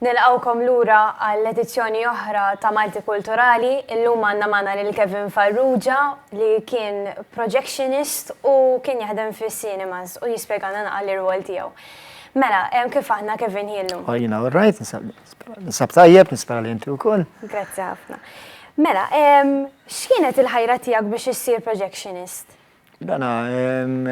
Nilqgħukom lura għal edizzjoni oħra ta' Malti Kulturali. Illum għandna magħna lil Kevin Farrugia li kien projectionist u kien jaħdem fis-cinemas u jispjegalna naqra l-irwol tiegħu. Mela, kif aħna Kevin hi llum? Oh, jiena all right, nisab tajjeb, nispera li inti wkoll. Grazzi ħafna. Mela, x'kienet il-ħajra tiegħek biex issir projectionist? Dana,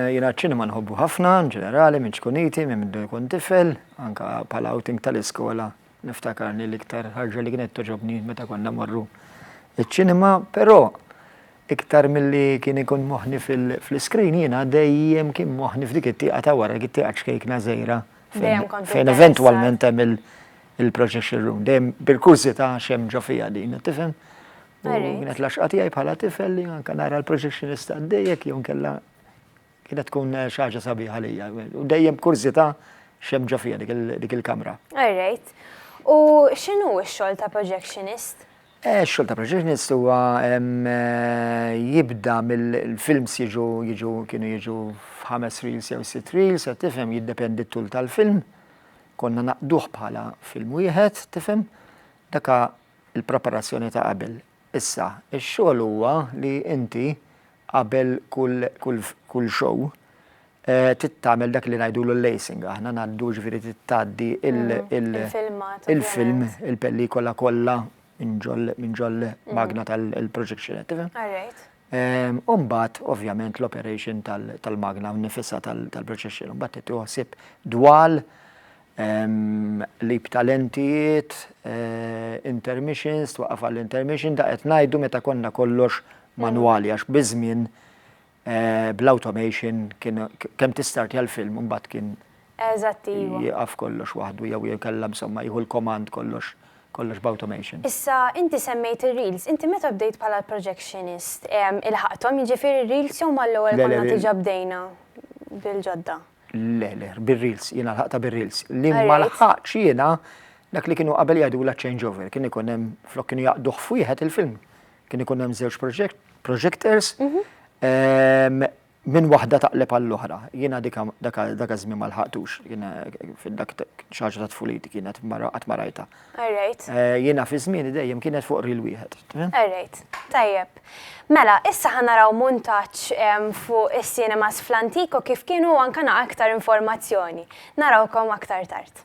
jiena ċ-ċinema nħobbu ħafna, ġenerali, minn ċkuniti, minn mindu nkun tifel, anka bħala outing tal-iskola, niftakar li l-iktar ħarġa li kienet toġobni meta konna morru ċ-ċinema, però iktar milli kien ikun moħħni fl-iskrin jiena dejjem kien moħħni f'dik it-tieqa ta' wara, dik it-tieqa ċkejkna żgħira fejn eventwalment hemm il-projection room, dejjem bil-kurżità x'hemm ġo fiha din, tifhem? Kienet laxqa tiegħi bħala tifel li anke nara l-projectionist għaddejjek jew nkella kienet tkun eh, xaġa sabiħa lija. U dejjem kurzita xem ġo fija dik il-kamra. Alright. U x'inhu x-xogħol ta' projectionist? Eh, xogħol ta' projectionist huwa eh, jibda mill-films jiġu jiġu kienu jiġu f'ħames reels jew sitt reels, tifhem jiddependi t-tul tal-film. Konna naqduh bħala film wieħed, tifhem? Daka il-preparazzjoni ta' qabel. Issa, ix-xogħol huwa li inti qabel kull kull kull show trid tagħmel dak li ngħidulu l-lacing aħna ngħaddu ġifieri trid tgħaddi il il il-film il-pellikola kollha minn ġol minn ġol magna tal-projection qed tifhem? U mbagħad ovvjament l-operation tal-magna nnifisha tal-projection u mbagħad tieħu ħsieb dwal Qlib ta' lentijiet, intermissions, twaqqaf għall-intermission, da qed ngħidu meta konna kollox manwali għax biż-żmien bl-automation kien kemm tistartja l-film u mbagħad kien jieqaf kollox waħdu jew inkella insomma jieħu l-command kollox kollox b'automation. Issa inti semmejt ir-reels, inti meta bdejt bħala l-projectionist ilħaqthom jiġifieri r-reels jew mal-ewwel konna diġà bdejna bil-ġodda? Le, le, bir-reels, jiena lħaqtha bir-reels. Li ma lħaqtx jiena dak li kienu qabel jgħidulha changeover, kien ikun hemm flok kienu jaqduh f'wieħed il-film. Kien ikun hemm żewġ projectors mhm. ehm, minn waħda taqleb għall-oħra. Jiena dak żmien ma lħaqtux, jiena dak xaġa ta' tfuliti kienet qatt marajta. Alright. Eh, jiena fi żmieni dejjem kienet fuq ril wieħed. Alright, tajjeb. Mela, issa ħanaraw muntaċ fuq is-cinemas fl-antiko kif kienu anka naqa aktar informazzjoni. Narawkom aktar tard.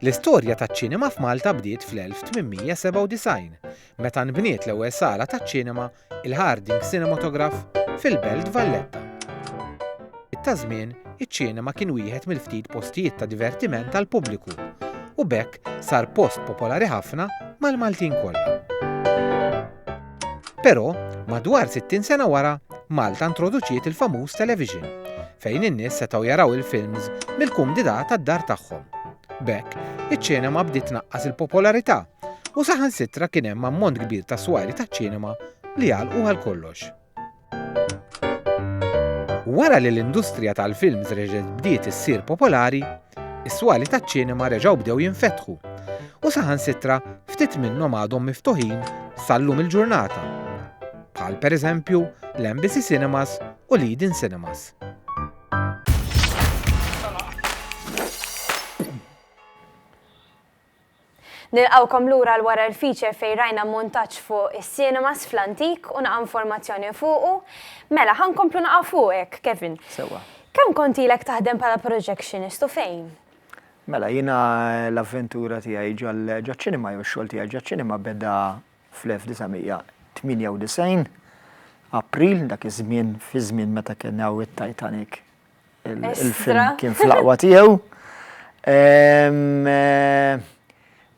L-istorja taċ-ċinema f'Malta bdiet fl-1897, meta nbniet l-ewwel sala taċ-ċinema, il-Harding Cinematograph, fil-Belt Valletta. Ta' żmien, iċ-ċinema kien wieħed mill-ftit postijiet ta' divertiment tal-pubbliku u b'hekk sar post popolari ħafna mal-Maltin kollha. Però, madwar 60 sena wara, Malta introduċiet il-famuż television, fejn in-nies setgħu jaraw il-films mill-kumdità tad-dar tagħhom. B'hekk, iċ-ċinema bdiet tnaqqas il-popolarità u saħansitra kien hemm ammont kbir ta' swari taċ-ċinema li għalqu għal kollox. Wara li l-industrija tal-films reġgħet bdiet issir popolari, is-swali taċ-ċinema reġgħu bdew jinfetħu u saħansitra ftit minnhom għadhom miftuħin sallum il-ġurnata, bħal pereżempju l-Embassy Cinemas u l-Eden Cinemas. Nilqgħukom lura għal wara l-feature fejn rajna montaġġ fuq is-cinemas fl-antik u naqa' informazzjoni fuqu. Mela, ħa nkomplu naqa' fuqek, Kevin. Sewwa. Kemm kont ilek taħdem bħala projectionist u fejn? Mela, jiena l-avventura tiegħi ġaċ-ċinema jew ix-xogħol tiegħi ġaċ-ċinema beda fl-1998, April, dak iż-żmien, fiż-żmien meta kien hawn it-Titanic. il-film kien fl-aqwa tiegħu. Ehm, eh,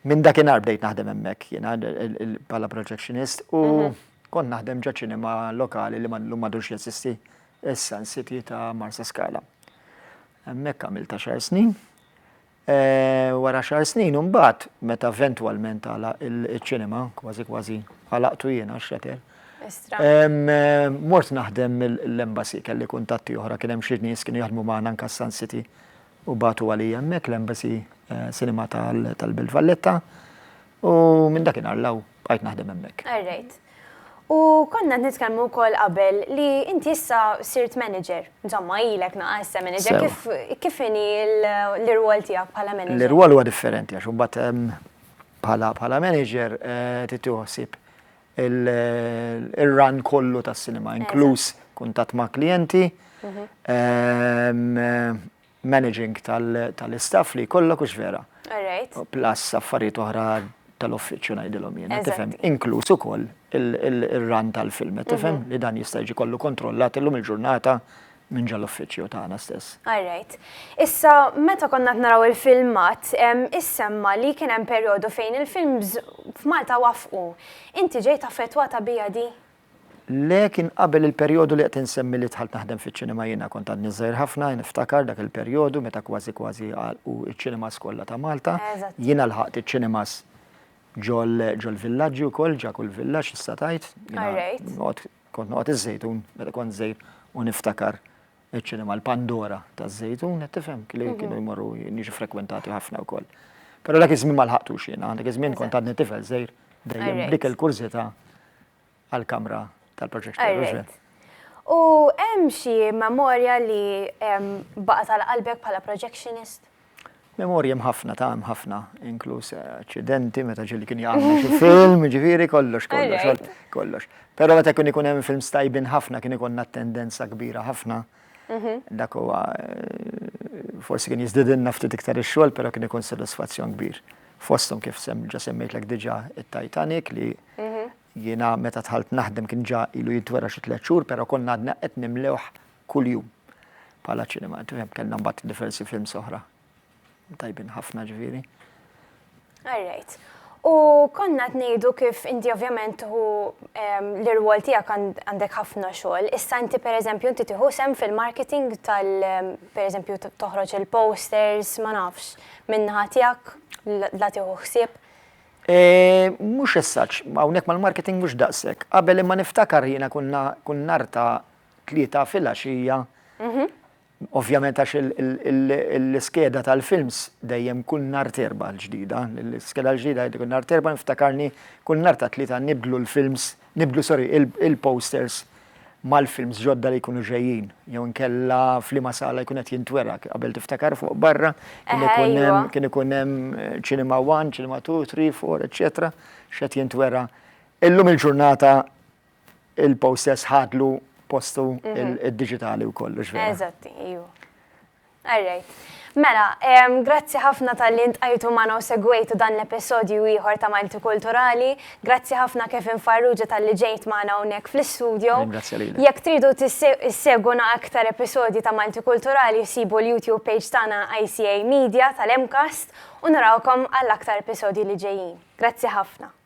minn dakinhar bdejt naħdem hemmhekk jiena bħala projectionist u mhm. kont naħdem ġa ċinema lokali li l-lum madux jesisti issa City ta' Marsa Skala. Hemmhekk għamilt ta' xar snin. Wara xahar snin imbagħad meta eventwalment għalaq iċ-ċinema, kważi kważi għalaqtu jien għax-xatter. Mort naħdem l-embassy, kelli kuntatti oħra, kien hemm xi nies kienu jaħdmu magħna anke s-Sun City u bagħtu għalija hemmhekk l-embassy cinema tal-Belt Valletta u minn dakinhar 'l hawn. bqajt naħdem hemmhekk. All right. U konna nitkellmu wkoll qabel li inti issa sirt manager. Insomma, ilek naqa' issa manager. Kif kif inhi l-irwol tiegħek bħala manager? L-irwol huwa differenti għax imbagħad ehm, bħala bħala manager eh, titieħu ħsieb il-run kollu tas-sinema, inkluż kuntatt ma' klijenti, mhm. ehm, managing tal-istaff li jkollok hux vera. Alright. Plus affarijiet oħra tal-uffiċċju ngħidilhom jiena, tifhem? Inkluż ukoll ir-run tal-film, qed tifhem? Li dan jista' jiġi kollu kontrollat illum il-ġurnata minn ġol uffiċċju tagħna stess. Alright. Issa meta konna qed naraw il-filmat, issemma li kien hemm perjodu fejn il-films f'Malta waffqu. Inti ġejt affettwata biha di? Le, kien qabel il-perjodu li qed insemmi li dħalt naħdem fiċ-ċinema jiena. Kont għadni żgħir ħafna, jien niftakar dak il-perjodu meta kważi kważi għalqu ċ-ċinemas kollha ta' Malta. Jiena lħaqt iċ-ċinemas ġol-villaġġi wkoll, ġa kull villaġġ tista' tgħid. Jiena noqgħod, kont noqgħod iż-Żejtun meta kont żgħir u niftakar iċ-ċinema l-Pandora taż-Żejtun, qed tifhem, li mhm. kienu jmorru jiġu frekwentati ħafna wkoll. Però dak iż-żmien ma lħaqtux jiena, dak iż-żmien kont għadni tifel żejr dejjem dik il-kurżità għall-kamra tal-proġezzjoni. U hemm xi memorja li baqgħet għal qalbek bħala projectionist? Memorji hemm ħafna ta' hemm ħafna, inkluż aċċidenti meta ġieli kien jagħmel xi film, ġifieri kollox kollox kollox. Però meta kien ikun hemm films tajbin ħafna kien ikollna tendenza kbira ħafna. Mhm. Dak huwa eh, forsi kien jiżdidilna ftit iktar ix-xogħol, però kien ikun sodisfazzjon kbir. Fosthom kif ġa semmejtlek diġà it-Titanic li mhm. Jiena meta dħalt naħdem kien ġa ilu jintwera xi tliet xhur, però konna għadna qed nimlewh kuljum bħala ċinema. Tifhem, kellna mbagħad diversi films oħra tajbin ħafna ġifieri. All right. U konna t-nejdu kif inti ovvjament hu l-irwol tijak għandek ħafna xogħol. Issa inti per eżempju inti tiħu sem fil-marketing tal per eżempju toħroġ il-posters, ma nafx, minnaħa tijak la tiħu ħsieb. Mhux as such, hawnhekk mal-marketing mhux daqshekk. Qabel imma niftakar jiena konna kull nhar ta' tlieta filgħaxija, ovvjament għax l-iskeda tal-films dejjem kull nhar t'Erbgħa l-ġdida, l-iskeda l-ġdida jgħidu kull nhar t'Erbgħa niftakarni kull nhar tat-tlieta nibdlu l-films Nibdlu, sorry, il-posters mal-films ġodda li jkunu ġejjin, jew inkella f'liema sala jkun qed jintwera, qabel tiftakar fuq barra, kien ikun hemm ċinema eh, one, ċinema two, three, four, eċċetera, x'qed jintwera. Illum il-ġurnata il-posters ħadlu postu mhm. id-diġitali wkoll, ġvera. Eżatti, iju. All right. Mela, grazzi ħafna talli ntqajtu magħna u segwejtu dan l-episodju ieħor ta' Maltikulturali. Grazzi ħafna Kevin Farrugia talli ġejt magħna hawnhekk fl-istudio. Ringrazzja lilek. Jekk tridu isseguna aktar episodji ta' Maltikulturali sibu l-YouTube page tagħna ICA Media tal-MCAST u narawkom għal aktar episodji li ġejjin. Grazzi ħafna.